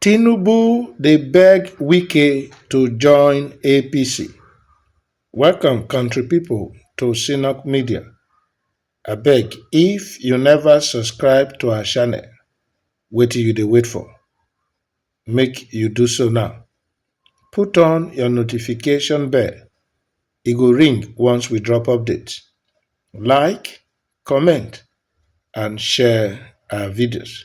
tinubu dey beg wike to join apc welcome country pipo to synack media abeg if you neva subscribe to our channel wetin you dey wait for make you do so now put on your notification bell e go ring once we drop update like comment and share our videos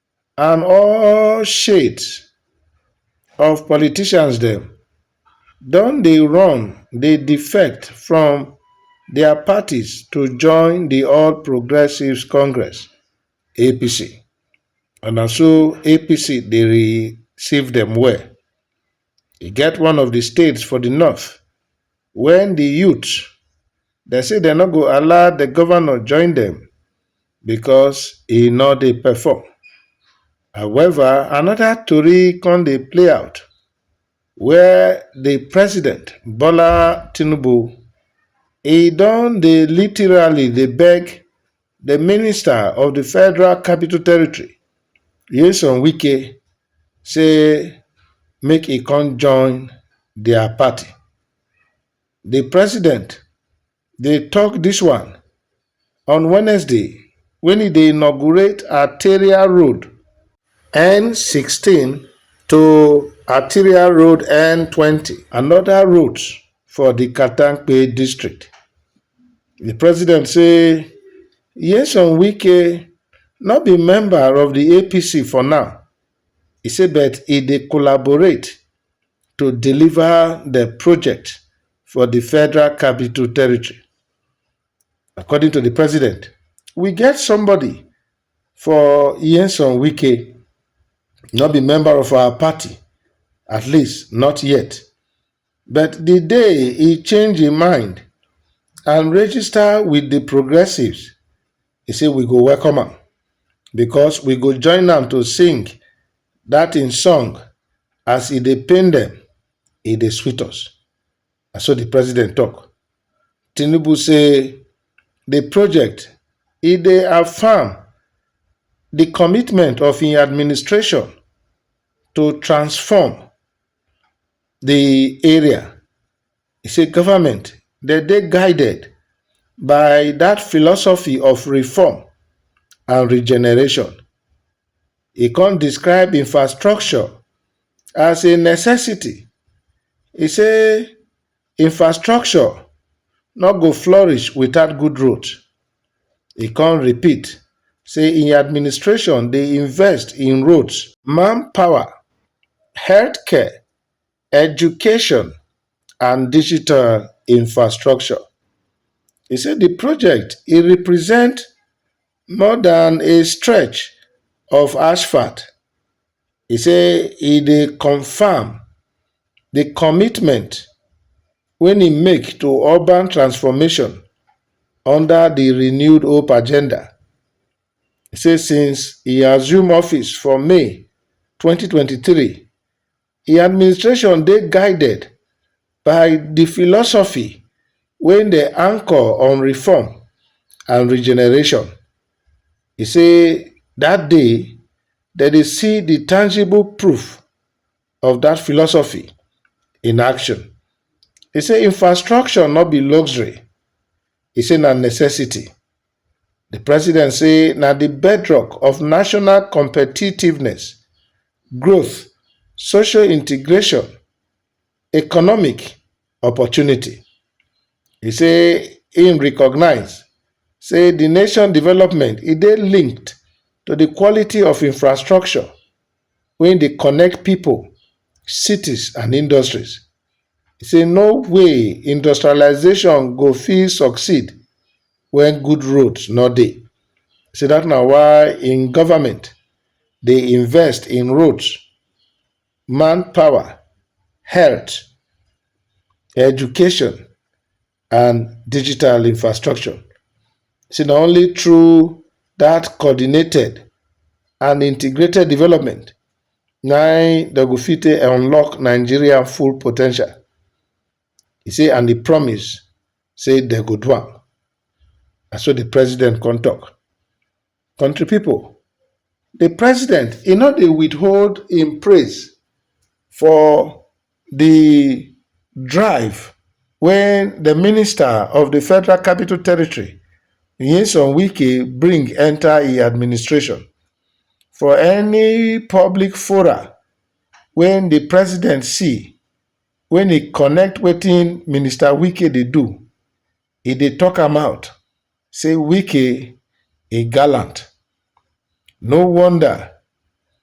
and all shades of politicians dem don dey run dey defect from dia parties to join di all progressives congress (apc) and na so apc dey receive dem well. E get one of di states for di north wen di youth dem say dem no go allow di govnor join dem because e no dey perform. However, anoda tori come dey play out where di president Bola Tinubu e don dey literally dey beg The minister of the Federal Capital Territory, Nyesom Wike, say make he come join their party. The president they talk this one on Wednesday when he dey inaugurate Arteria Road N16 to Arteria Road N20, another road for the Katampe district. Di president say Nyesom Wike no be member of di APC for now, e say but e dey collaborate to deliver di project for di Federal Capital Territory. According to di president, we get somebody for Nyesom Wike, no be member of our party, at least not yet. But di day e change im mind and register wit di Progressives, e say we go welcome am because we go join am to sing dat im song as e dey pain dem, e dey sweet us. Na so di president tok. Tinubu say di project e dey affirm di commitment of im administration to transform di area e say goment dey dey guided by dat philosophy of reform and regeneration e kon describe infrastructure as a necessity e say Infrastructure no go flourish without good road. E come repeat say im administration dey invest in roads, manpower, healthcare, education and digital infrastructure. E say di project e represent more dan a stretch of asphalt, e say e dey confam di commitment wey im make to urban transformation under di renewed hope agenda. E say since e assume office for May twenty twenty three, Im administration dey guided by di philosophy wey dem anchor on reform and regeneration. E say dat day dem dey see di tangible proof of dat philosophy in action. E say infrastructure no be luxury, e say na necessity. Di president say na di bedrock of national competitiveness, growth, social integration, economic opportunity. E say im recognise say di nation development e dey linked to di quality of infrastructure wey dey connect pipo, cities and industries. e say no way industrialization go fit succeed when good roads no dey. E say that na why im government dey invest in roads, manpower, health, education, and digital infrastructure. Say na only through that coordinated and integrated development na im dem go fit take unlock Nigeria full po ten tial. He say and he promise say dem go do am. Na so the president come talk. Country people, the president e no dey withhold im praise for the drive wey the minister of the Federal Capital Territory, Nyesom Wike bring enter e administration. For any public fora wey the president see wey e connect wetin Minister Wike dey do, e dey talk am out say wike e gallant, no wonder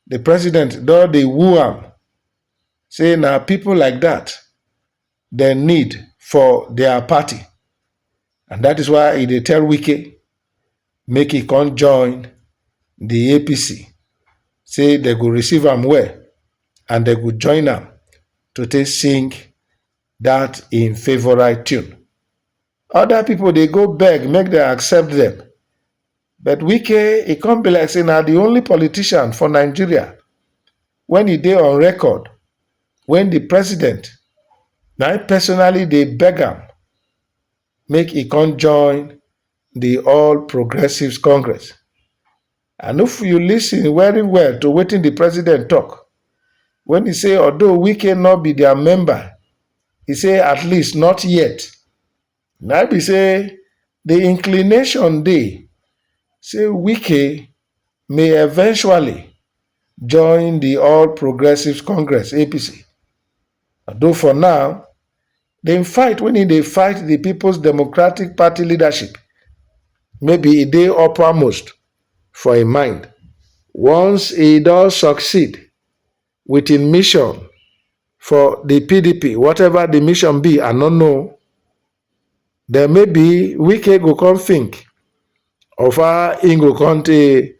the president don dey woo am say na people like that dem need for their party and that is why e dey tell wike make e come join the APC say dem go receive am well and dem go join am to take sing dat im favorite tune. Other people dey go beg make dem accept dem. But Wike, e come be like say na the only politician for Nigeria when e dey on record when the president na im personally dey beg am make e come join the All Progressives Congress. I no if you listen very well to wetin the president talk when he say although Wike no be their member, he say at least not yet. Na be say the inclination dey say Wike may eventually join the All Progressives Congress APC. Although for now, Dem fight wen e dey fight di Peoples Democratic Party leadership, maybe e dey uppermost for im mind. Once e don succeed wit im mission for di pdp, whatever di mission be, I no know, den maybe Wike go come think of how im go come take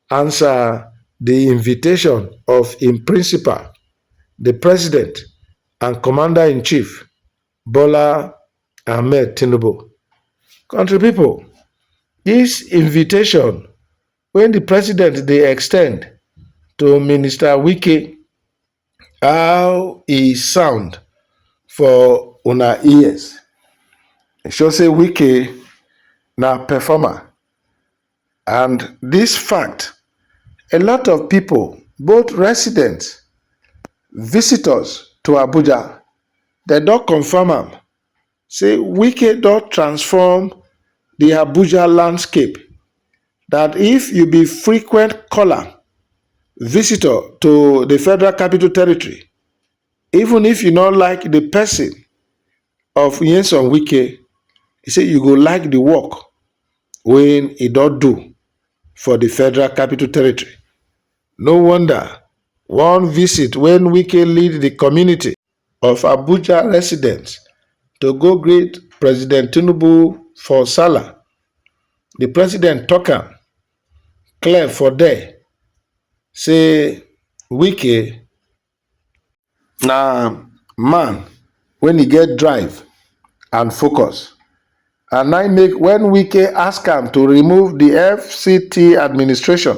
Answer di invitation of im principal, di president and commander-in-chief, Bola Ahmed Tinubu. Country pipo, dis invitation wey di president dey extend to Minister Wike How e sound for una ears, e show sey Wike na performer and dis fact a lot of pipu both resident, visitors to Abuja dem don confirm am. say wike don transform di abuja landscape dat if you be frequent caller visitor to di federal capital territory even if you no like di pesin of nyesom wike e say you go like di work wey e don do for di federal capital territory no wonder one visit wen wike lead di community of Abuja residents to go greet President Tinubu for Sallah, the president talk am clear for there say Wike na man when he get drive and focus and I make when Wike ask am to remove the FCT administration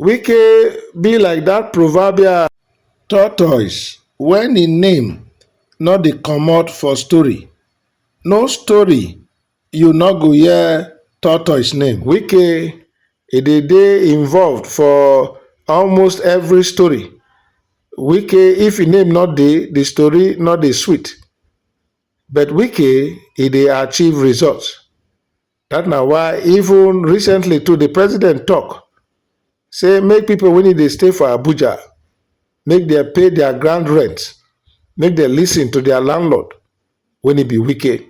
Wike be like that proverbial tortoise when im name no dey comot for story, no story you no go hear tortoise name. Wike e dey dey involved for almost every story, Wike if im name no dey the story no dey sweet but Wike e dey achieve results. Dat na why even recently too di president tok say make pipo wey dey stay for Abuja make dem pay dia ground rent, make dem listen to dia landlord wey be Wike.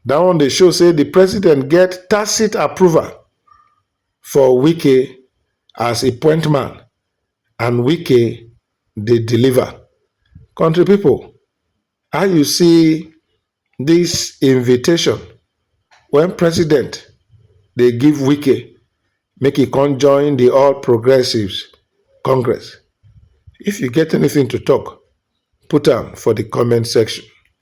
Dat one dey show say di president get tacit approval for Wike as e point man and Wike dey deliver. Kontri pipo How you see this invitation when president dey give Wike make he come join the All Progressives Congress? If you get anything to talk, put am for the comment section.